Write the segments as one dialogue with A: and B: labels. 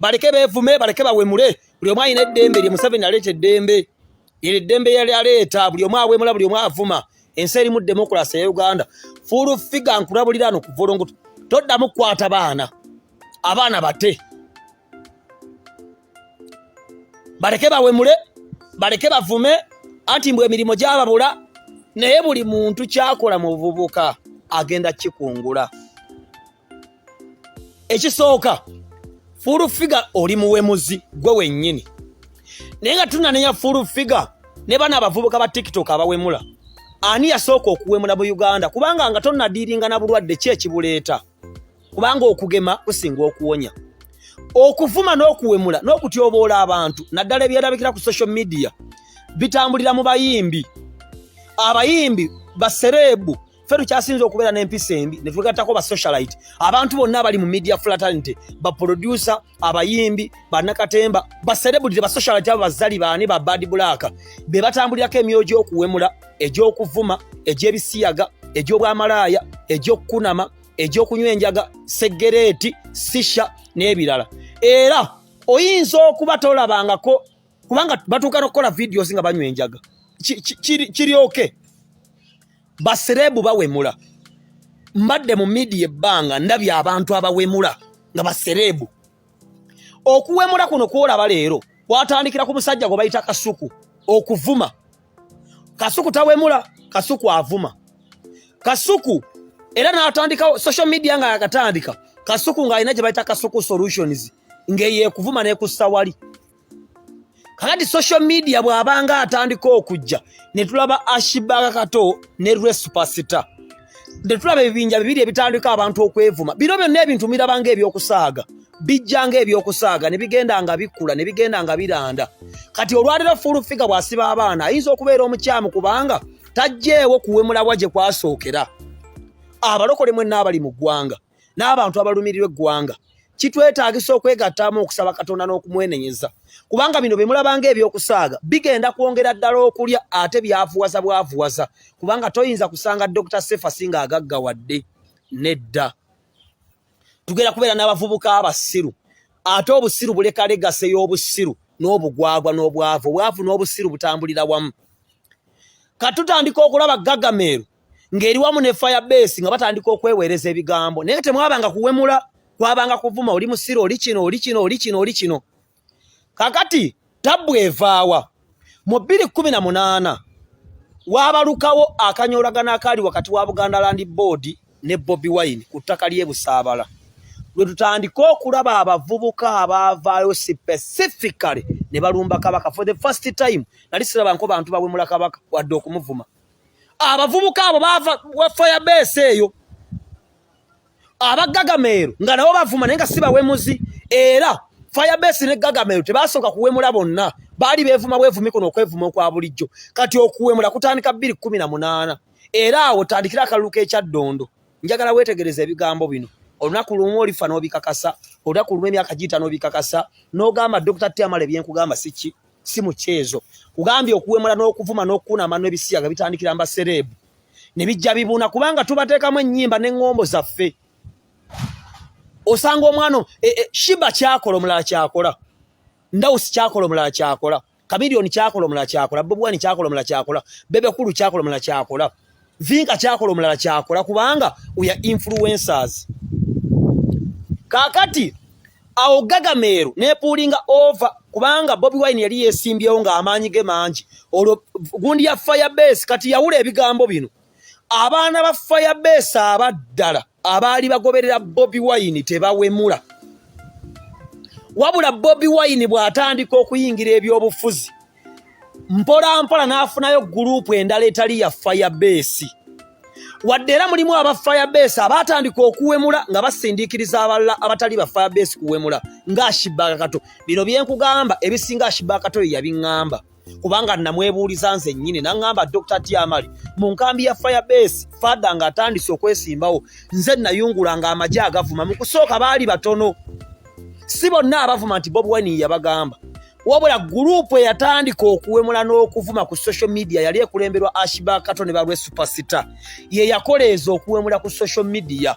A: baleke bevume baleke bawemule buli omu alina eddembe lye museveni aleeta eddembe ero eddembe yali aleeta buli omu awemula buli omu avuma ensi erimu demokulasi eya uganda fuulu figa nkulabulira no kuvolongoto toddamu kukwata baana abaana bate baleke bawemule baleke bavume anti mbwe emirimu gyababula naye buli muntu kyakola mu buvubuka agenda kikungula ekisooka full figure oli muwemuzi gwe wennyini naye nga tunanenya full figure ne bana abavubuka ba tiktok abawemula ani yasooka okuwemula mu uganda kubanga nga tonnadiiringa na bulwadde ki ekibuleeta kubanga okugema kusinga okuwonya okuvuma n'okuwemula n'okutyoboola abantu naddala ebyerabikira ku social media bitambulira mu bayimbi abayimbi basereebu ffe tukyasinza okubeera n'empisa embi ne twegattako ba socialite abantu bonna abali mu media fraternity baproducer abayimbi bannakatemba baserebudire ba socialite abo bazali baani ba bad black be batambulirako emyoyo gy'okuwemula egy'okuvuma egy'ebisiyaga egy'obwamalaaya egy'okukunama egy'okunywa enjaga segereeti sisha n'ebirala era oyinza okuba tolabangako kubanga batuuka nokukola videos nga banywa enjaga kiryoke basereebu bawemula mbadde mu midiya ebbanga ndabye abantu abawemula nga basereebu okuwemula kuno kwolaba leero kwatandikira ku musajja gwe bayita kasuku okuvuma kasuku tawemula kasuku avuma kasuku era natandikawo social media nga yakatandika kasuku ng'alina gye bayita kasuku solutions ng'eyo ekuvuma n'ekussa wali kakati social media bw'abanga atandika okujja ne tulaba ashibaka kato ne lwe superstar ne tulaba ebibinja bibiri ebitandika abantu okwevuma bino byonna ebintu mirabanga ebyokusaaga bijjanga ebyokusaaga ne bigenda nga bikkula ne bigenda nga biranda kati olwaliro full figure bw'asiba abaana ayinza okubeera omukyamu kubanga tajjeewo kuwemulabwa gye kwasookera abalokole mwenna abali mu ggwanga n'abantu abalumirirwa eggwanga kitwetaagisa okwegattaamu okusaba katonda n'okumwenenyeza kubanga bino bye mulabanga ebyokusaaga bigenda kwongera ddala okulya ate byavuwaza bwavuwaza kubanga toyinza kusanga dokita sefasi nga agaggawadde nedda tugenda kubeera n'abavubuka abasiru ate obusiru bulekalegase y'obusiru n'obugwagwa n'obwavu obwavu n'obusiru butambulira wamu katutandika okulaba gagameeru ng'eri wamu ne fire base nga batandika okweweereza ebigambo naye temwabanga kuwemula kwabanga kuvuma oli musiro oli kino oli kino oli kino oli kino kakati tabbu evaawa mu bbiri kkumi na munaana waabalukawo akanyoolagana akaali wakati wa buganda land board ne bobi wine ku ttaka ly'e busaabala lwe tutandika okulaba abavubuka abaavaayo specifically ne balumba kabaka for the first time nali sirabanko bantu bawemula kabaka wadde okumuvuma abavubuka abo baava wa fire base eyo abagagameero nga nabo bavuma naye nga si bawemuzi era fire base ne gagameero tebasooka kuwemula bonna baali beevuma bwevumi kuno okwevuma okwa bulijjo kati okuwemula kutandika bbiri kumi na munaana era awo tandikira akalulu k'ekyaddondo njagala weetegereza ebigambo bino olunaku lumu olifa n'obikakasa olunaku lumu emyaka giita n'obikakasa n'ogamba dokita tiamala ebyenkugamba si ki si mukyezo kugambye okuwemula n'okuvuma n'okukunama n'ebisiyaga bitandikira mba sereebu ne bijja bibuuna kubanga tubateekamu ennyimba n'eŋŋombo zaffe osanga omwana e, e, shiba kyakola omulala kyakola ndawusi kyakola omulala kyakola kamiliyoni kyakola omulala kyakola bobuwani kyakola omulala kyakola bebekulu kyakola omulala kyakola vinka kyakola omulala kyakola kubanga uya influencers kakati awo gagameero nepuulinga ova kubanga bobi wine yali yesimbyewo ng'amaanyi ge mangi olwo gundi ya firebase kati yawula ebigambo bino abaana ba firebase abaddala abaali bagoberera bobi wine tebawemula wabula bobi wine bw'atandika okuyingira ebyobufuzi mpolampola n'afunayo guruupu endala etali ya fayabeesi wadde era mulimu aba fayabeesi abaatandika okuwemula nga basindiikiriza abalala abatali ba fayabeesi kuwemula ng'ashibakato bino byenkugamba ebisinga ashibakato ye yabiŋŋamba kubanga namwebuuliza nze nnyini naŋŋamba dr tiamali mu nkambi ya firebase fada ng'atandise okwesimbawo nze nayungula ng'amagye agavuma mu kusooka baali batono si bonna abavuma nti bobi wine yabagamba wabula guruupu eyatandika okuwemula n'okuvuma ku social media yali ekulemberwa ashibakato ne balwe supersita ye yakoleeza okuwemula ku social media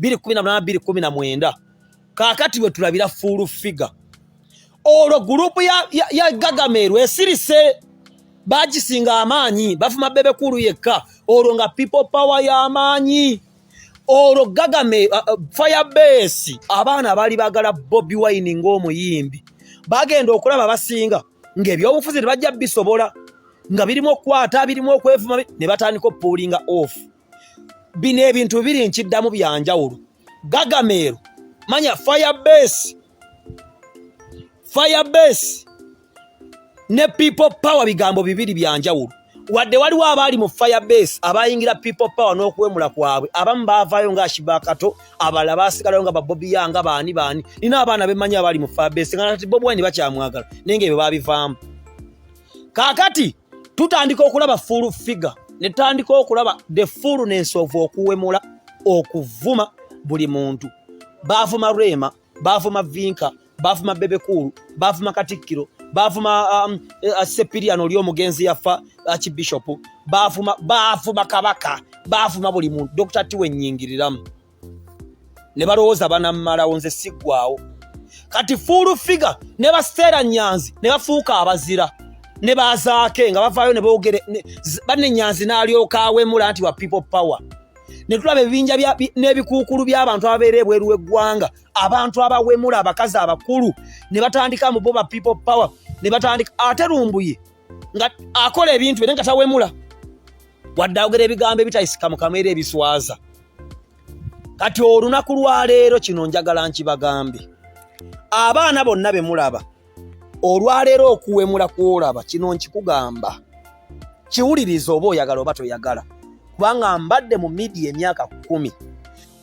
A: 2018 kakati wetulabira full figure olwo gurupu ya, ya, ya gagameru esirise bagisinga amaanyi bafuma bebekulu yekka olwo nga people power y'amaanyi olwo gagame uh, uh, fire base abaana baali bagala bobi wine ng'omuyimbi bagenda okulaba basinga ng'ebyobufuzi tebajja bisobola nga birimu okukwata birimu okwevuma ne batandika opuulinga off bino ebintu bibiri nkiddamu bya njawulo gagameero manya fire base fire base ne people power bigambo bibiri bya njawulo wadde waliwo abaali mu fire base abayingira people power n'okuwemula kwabwe abamu baavaayo nga ashibakato abalala baasigalayo nga babobi yanga baani baani nina abaana bemanyi abaali mu fire base nga nati bobi wine bakyamwagala naye nga ebyo baabivaamu kaakati tutandika okulaba full figure ne tutandika okulaba the fullness of okuwemula okuvuma buli muntu baavuma rema baavuma vinka baavuma bebekulu baavuma katikkiro baavuma um, uh, sepirian oli omugenzi yafa uh, kibishopu baavuma baavuma kabaka baavuma buli muntu dokita tiwenyingiriramu ne balowooza banammalawo nze siggwawo kati fuulu figa ne baseera nyanzi ne bafuuka abazira ne bazaake nga bavaayo ne boogere banne nyanzi n'alyoka awemula nti wa people power ne tulaba ebibinja n'ebikuukulu by'abantu ababeera ebweru w'eggwanga abantu abawemula abakazi abakulu ne batandika mu bo ba people power ne batandika ate lumbuye nga akola ebintu ere nga tawemula wadde ayogera ebigambo ebitayisika mukamwa era ebiswaza kati olunaku lwaleero kino njagala nkibagambe abaana bonna be mulaba olwaleero okuwemula kwolaba kino nkikugamba kiwuliriza oba oyagala oba toyagala kubanga mbadde mu midia emyaka kumi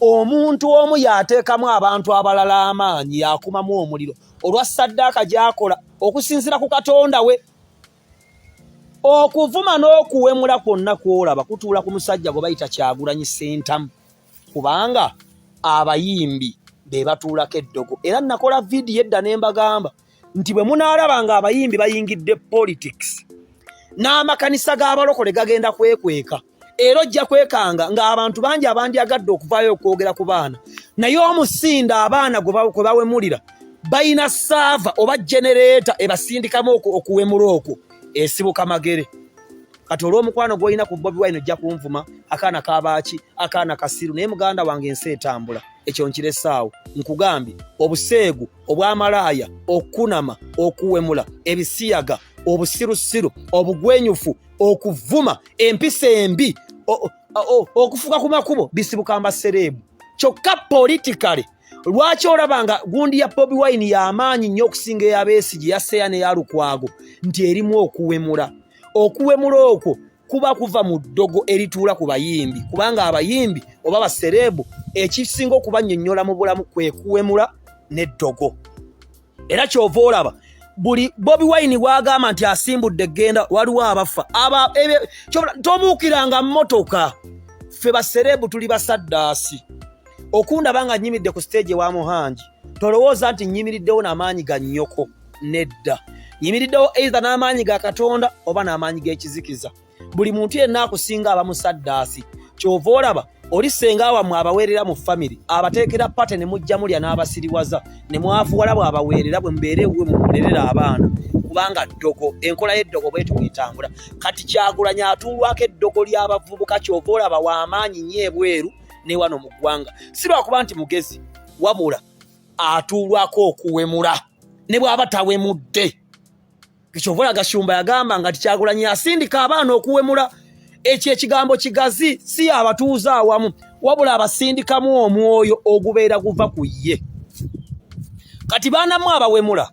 A: omuntu omu yateekamu abantu abalala amaanyi yakumamu omuliro olwa saddaaka gyakola okusinzira ku katonda we okuvuma n'okuwemula kwonna kwolaba kutuula ku musajja gwe bayita kyagulanyi sentamu kubanga abayimbi be batuulako eddogo era nakola vidiyo edda ne mbagamba nti bwe munaalaba nga abayimbi bayingidde politics n'amakanisa g'abalokole gagenda kwekweka era ojja kwekanga ng'abantu bangi abandyagadde okuvaayo okwogera ku baana naye omusinda abaana kwe bawemulira balina saava oba genereeta ebasindikamu okuwemula okwo esibuka magere kati olw'omukwano gw'olina ku bobi wine ojja kunvuma akaana kabaaki akaana kasiru naye muganda wange ensi etambula ekyo nkiresaawo nkugambye obuseegu obwamalaaya okukunama okuwemula ebisiyaga obusirusiru obugwenyufu okuvuma empisa embi okufuka ku makubo bisibuka mbasereemu kyokka politikale lwaki olaba nga gundi ya bobi wine yamaanyi nnyo okusinga eyabeesi gye yaseya neyalukwago nti erimu okuwemula okuwemula okwo kuba kuva mu ddogo erituula ku bayimbi kubanga abayimbi oba basereebu ekisinga okubanyonyola mu bulamu kwekuwemula n'eddogo era kyova olaba buli bobi wine bwagamba nti asimbudde genda waliwo abaffa tobuukiranga motoka ffe basereebu tuli basaddaasi okundaba nga nyimidde ku siteegi ewa muhangi tolowooza nti nyimiriddewo n'amaanyi ga nnyoko nedda nyimiriddewo eitha n'amaanyi ga katonda oba n'amaanyi g'ekizikiza buli muntu yenna akusinga aba musaddaasi kyova olaba oli senga wamwe abaweerera mu famire abateekera pate ne mujja mulya n'abasiriwaza ne mwafuwala bw'abaweerera bwe mubeere ewuwe mumulerera abaana kubanga ddogo enkola y'eddogo bwetuwetambula kati kyagulanya atuulwako eddogo ly'abavubuka kyova olaba w'amaanyi nnyo ebweru ne wano mu ggwanga si lwakuba nti mugezi wabula atuulwako okuwemula ne bw'aba tawemudde Kyovola Gashumba yagamba nga tikyagulanyi asindika abaana okuwemula ekyo ekigambo kigazi si abatuuze awamu wabula abasindikamu omwoyo ogubeera guva ku ye kati baanamu abawemula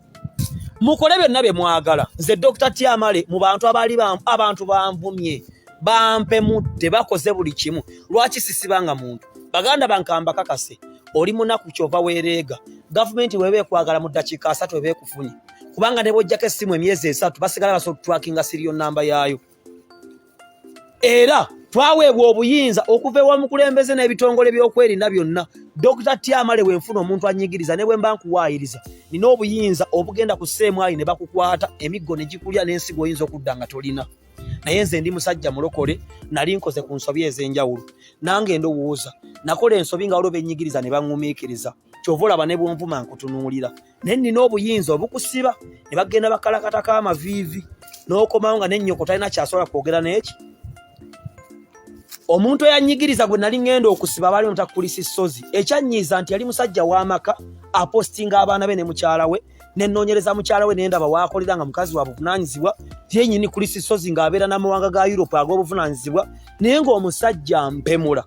A: mukole byonna bye mwagala nze dokita tyamale mu bantu abaali abantu banvumye bampemudde bakoze buli kimu lwaki sisibanga muntu baganda bankamba kakase oli munaku kyova wereega gavumenti weba ekwagala mu ddakiika asatu ebe bafunye kubanga ne bwojjako essimu emyezi esatu basigala basobola okutwakinga siriyo namba yaayo era twaweebwa obuyinza okuva ewa mukulembeze n'ebitongole by'okwerinda byonna dokita tyamale wenfuna omuntu anyigiriza ne bwe mba nkuwaayiriza nina obuyinza obugenda ku seemwayi ne bakukwata emiggo ne gikulya n'ensigo oyinza okudda nga tolina naye nze ndi musajja mulokole nali nkoze ku nsobi ez'enjawulo nange ndowooza nakola ensobi nga waliwo benyigiriza ne baŋŋumiikiriza kyova olaba ne bwonvuma nkutunuulira naye nina obuyinza obukusiba ne bagenda bakalakatako amaviivi n'okomawo nga nennyoko talina kyasobola kwogera n'eki omuntu eyanyigiriza gwe nali ngenda okusiba abaali omutakulisa essozi ekyanyiiza nti yali musajja w'amaka apostinga abaana be ne mukyala we nenoonyereza mukyala we nendaba waakolera nga mukazi wa buvunaanyizibwa yenyini kulisa essozi ng'abeera n'amawanga ga yurope ag'obuvunaanyizibwa naye ng'omusajja mpemula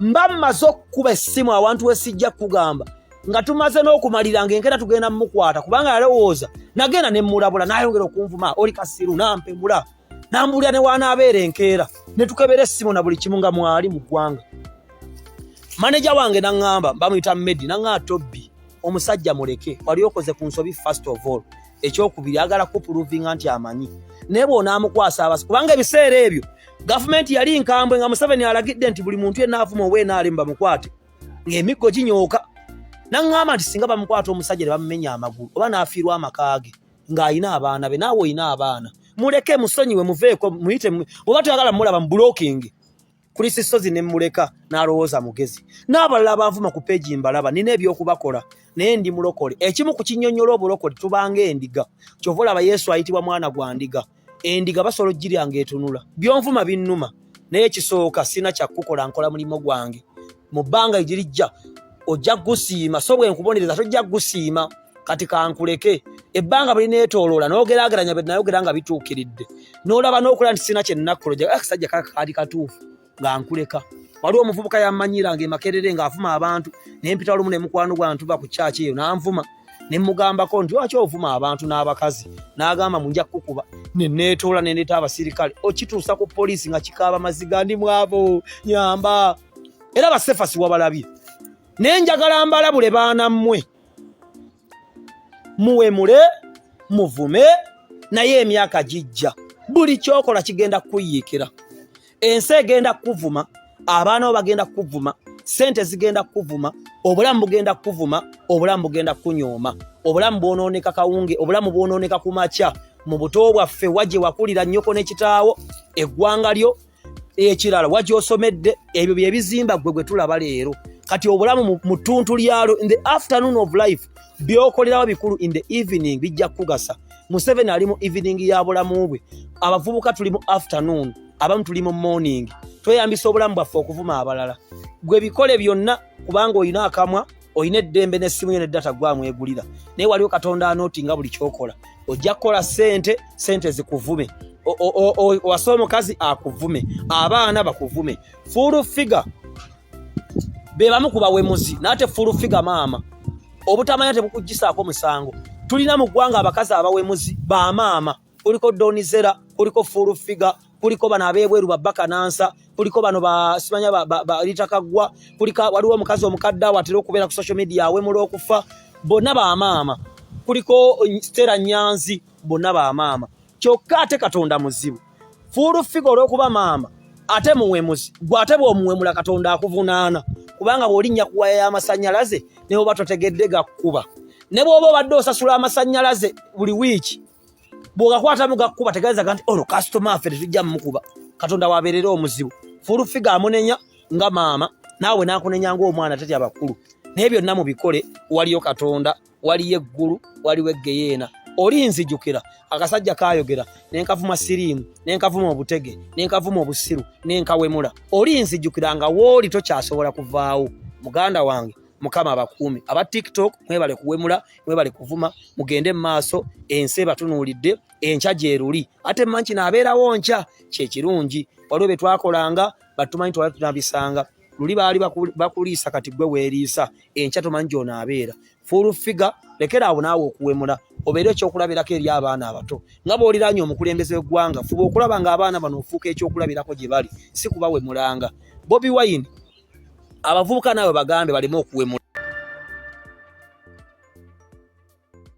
A: mba mmaze okukuba essimu awantu we sijja kukugamba nga tumaze n'okumalira nga enkera tugenda mumukwata kubanga yalowooza nagenda ne mmulabula n'ayongera okunvuma oli kasiru nampemula nambuulira ne wanaabeera enkeera ne tukebera essimu na buli kimu nga mwali mu ggwanga maneja wange naŋŋamba bamuyita medi naŋŋaa tobbi omusajja muleke wali okoze ku nsobi first of all ekyokubiri agala kupuluvinga nti amanyi naye bwonaamukwasa abasi kubanga ebiseera ebyo gavumenti yali nkambwe nga museveni alagidde nti buli muntu yenna avuma oba enaalemu bamukwate ng'emiggo ginyooka naŋŋamba nti singa bamukwata omusajja ne bamumenya amagulu oba n'afiirwa amaka ge ng'alina abaana be naawe olina abaana muleke musonyiwe muveeko muyite oba toyagala mulaba mu bulokingi Chris Ssozi ne muleka n'alowooza mugezi. N'abalala abanvuma ku peegi mbalaba nina eby'okubakola naye ndi mulokole. Ekimu ku kinnyonnyola obulokole tubanga endiga. Kyova olaba Yesu ayitibwa mwana gwa ndiga. Endiga basobola okugirya ng'etunula. Byonvuma binnuma naye ekisooka sina kya kukola nkola mulimu gwange. Mu bbanga egirijja ojja gusiima so bwe nkubonereza tojja gusiima. kati kankuleke ebbanga bwe lineetooloola n'ogeraageranya bye nayogera nga bituukiridde n'olaba n'okola nti sirina kye nnakukola ojja akasajja ah, kaka kaali katuufu nga nkuleka waliwo omuvubuka yammanyira nga emakerere ng'avuma abantu ne mpita olumu ne mukwano gwa ntuva ku kyaki eyo n'anvuma ne mmugambako nti lwaki ovuma abantu n'abakazi n'agamba mu nja kukuba ne neetoola ne ndeeta abasirikale okituusa ku poliisi nga kikaaba maziga ndi mwabo nyamba era basefasi wabalabye naye njagala mbalabule baana mmwe muwemule muvume naye emyaka gijja buli kyokola kigenda kukuyiikira ensi egenda kukuvuma abaana bo bagenda kukuvuma sente zigenda kukuvuma obulamu bugenda kukuvuma obulamu bugenda kukunyooma obulamu bwonooneka kawunge obulamu bwonooneka ku makya mu buto bwaffe wagye wakulira nnyoko ne kitaawo eggwanga lyo ekirala wagyosomedde ebyo byebizimba gwe gwe tulaba leero kati obulamu mu ttuntu lyalo in the afternoon of life byokolerawo bikulu in the evening bijja kukugasa museveni ali mu evening ya bulamu bwe abavubuka tuli mu afternoon abamu tuli mu morning tweyambisa obulamu bwaffe okuvuma abalala gwe bikole byonna kubanga olina akamwa olina eddembe nesimu yo nedata gwamwegulira naye waliwo katonda anoti nga buli kyokola ojja kukola sente sente zikuvume wasa omukazi akuvume abaana bakuvume full figure bebamu ku bawemuzi nate full figure maama obutamanya tebukujjisaako musango tulina mu ggwanga abakazi abawemuzi ba maama kuliko donizera kuliko full figure kuliko bano abebweru babaka nansa kuliko bano basimanya balitakagwa kulika waliwo omukazi omukadde awo atera okubeera ku social media awemula okufa bonna bamaama kuliko stera nyanzi bonna bamaama kyokka ate katonda muzibu full figure olwokuba maama ate muwemuzi gwe ate bwomuwemula katonda akuvunaana kubanga bwolinnya ku waya y'amasanyalaze ne bwoba totegedde gakkuba ne bwoba obadde osasula amasanyalaze buli wiiki bw'ogakwatamu gakkuba tegeezaga nti ono kasitoma affe tetujja mumukuba katonda wabeerera omuzibu fulufiga amunenya nga maama naawe n'akunenya ng'omwana teti abakulu naye byonna mu bikole waliyo katonda waliyo eggulu waliwo eggeyeena oli nzijukira akasajja kayogera nenkavuma siriimu nenkavuma obutege nenkavuma obusiru nenkawemula oli nzijukira nga wooli tokyasobola kuvaawo muganda wange mukama abakuumi aba tiktok mwebale kuwemula mwebale kuvuma mugende mumaaso ensi ebatunuulidde enkya gyeruli ate manki naabeerawo nkya kyekirungi waliwo betwakolanga batumanyi twali tunabisanga luli baali bakuliisa kati gwe weeriisa enkya tomanyi gyonaabeera full figure lekera awo naawe okuwemula obeere ekyokulabirako eri abaana abato nga bwoliranye omukulembeze weggwanga fuba okulaba nga abaana bano ofuuka ekyokulabirako gye bali si kubawemulanga bobi wine abavubuka naawe bagambe baleme okuwemula.